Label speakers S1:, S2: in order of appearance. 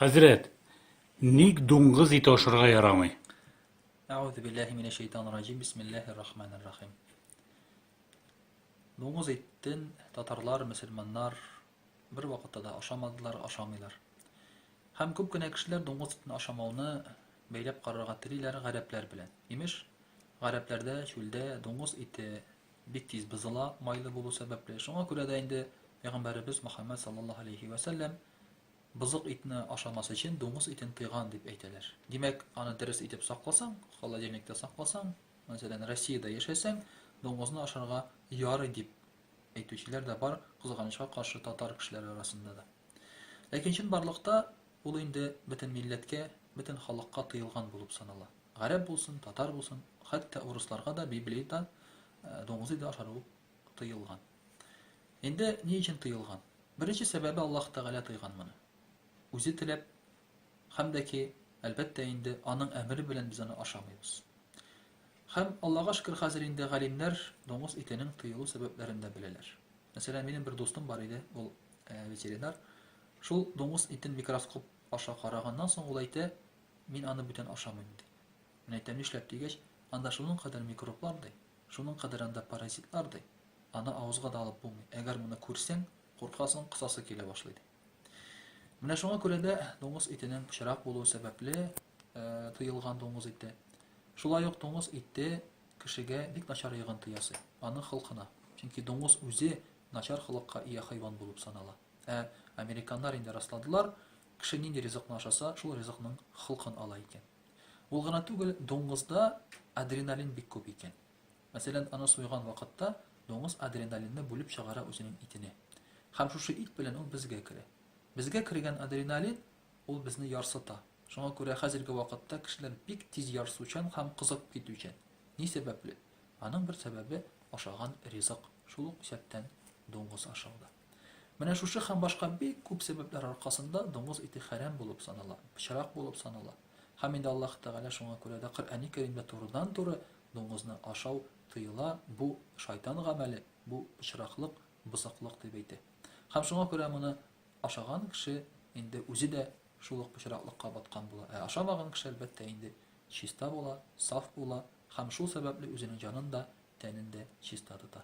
S1: Хәзрәт, ник дуңгыз ите ашарга ярамый? Әгъүзу
S2: биллаһи минәш шәйтанир раҗим. Бисмиллаһир рахманир рахим. Дуңгыз итен татарлар, мөселманнар бер вакытта да ашамадылар, ашамыйлар. Һәм күп кенә кешеләр дуңгыз итен ашамауны бәйләп карарга телиләр гарәпләр белән. Имеш, гарәпләрдә чүлдә дуңгыз ите бик тиз бозыла, майлы булу сәбәпле. Шуңа күрә дә инде пәйгамбәребез Мөхәммәд саллаллаһу алейхи ва саллям Бозык итне ашамас өчен дуңгыз итен тыйган дип әйтәләр. Димәк, аны дөрес итеп сакласаң, холодильникта сакласаң, мәсәлән, Россиядә яшәсәң, дуңгызны ашарга ярый дип әйтүчеләр дә бар, кызганычка каршы татар кешеләре арасында да. Ләкин чынбарлыкта ул инде бөтен милләткә, бөтен халыкка тыелган булып санала. Гарәп булсын, татар булсын, хәтта урысларга да Библиядә дуңгыз иде ашару тыелган. Инде ни өчен тыелган? Беренче сәбәбе Аллаһ Тәгалә тыйган моны. Үзе теләп һәм дә ки, әлбәттә инде, аның әмере белән без аны ашамыйбыз. Һәм Аллаһга шөкер, хәзер инде галимнәр доңгыз итенең тыелу сәбәпләрен дә беләләр. Мәсәлән, минем бер дустым бар иде, ул э, ветеринар. Шул дуңгыз итен микроскоп аша караганнан соң ул әйтә, мин аны бүтән ашамыйм ди. Менә әйтәм нишләп дигәч, анда шуның кадәр микроблар ди, шуның кадәр анда паразитлар ди, аны авызга да алып булмый, әгәр моны күрсәң, куркасың, косасы килә башлый ди. Менә шуңа күрә дә дуңгыз итенең пычрак булуы сәбәпле тыелган дуңгыз ите. Шулай ук дуңгыз ите кешегә бик начар йогынты ясый, аның холкына. Чөнки дуңгыз үзе начар холыкка ия хайван булып санала. Ә американнар инде расладылар, кеше нинди ризыкны ашаса, шул ризыкның холкын ала икән. Ул гына түгел, дуңгызда адреналин бик күп икән. Мәсәлән, аны суйган вакытта дуңгыз адреналинны бүлеп чыгара үзенең итенә. Һәм шушы ит белән ул безгә керә. Безгә кергән адреналин, ул безне ярсыта. Шуңа күрә хәзерге вакытта кешеләр бик тиз ярсучан һәм кызып китүчән. Ни сәбәпле? Аның бер сәбәбе, ашаган ризык, шул ук исәптән дуңгыз ашау да. Менә шушы һәм башка бик күп сәбәпләр аркасында дуңгыз ите хәрәм булып санала, пычрак булып санала. Һәм инде Аллаһ Тәгалә шуңа күрә дә Коръәни Кәримдә турыдан-туры дуңгызны ашау тыела, бу, шайтан гамәле, бу, пычраклык, бозыклык, дип әйтә. Һәм шуңа күрә моны ашаган кеше инде үзе дә шул ук пычраклыкка баткан була. Ә ашамаган кеше, әлбәттә, инде чиста була, саф була һәм шул сәбәпле үзенең җанын да, тәнен дә чиста тота.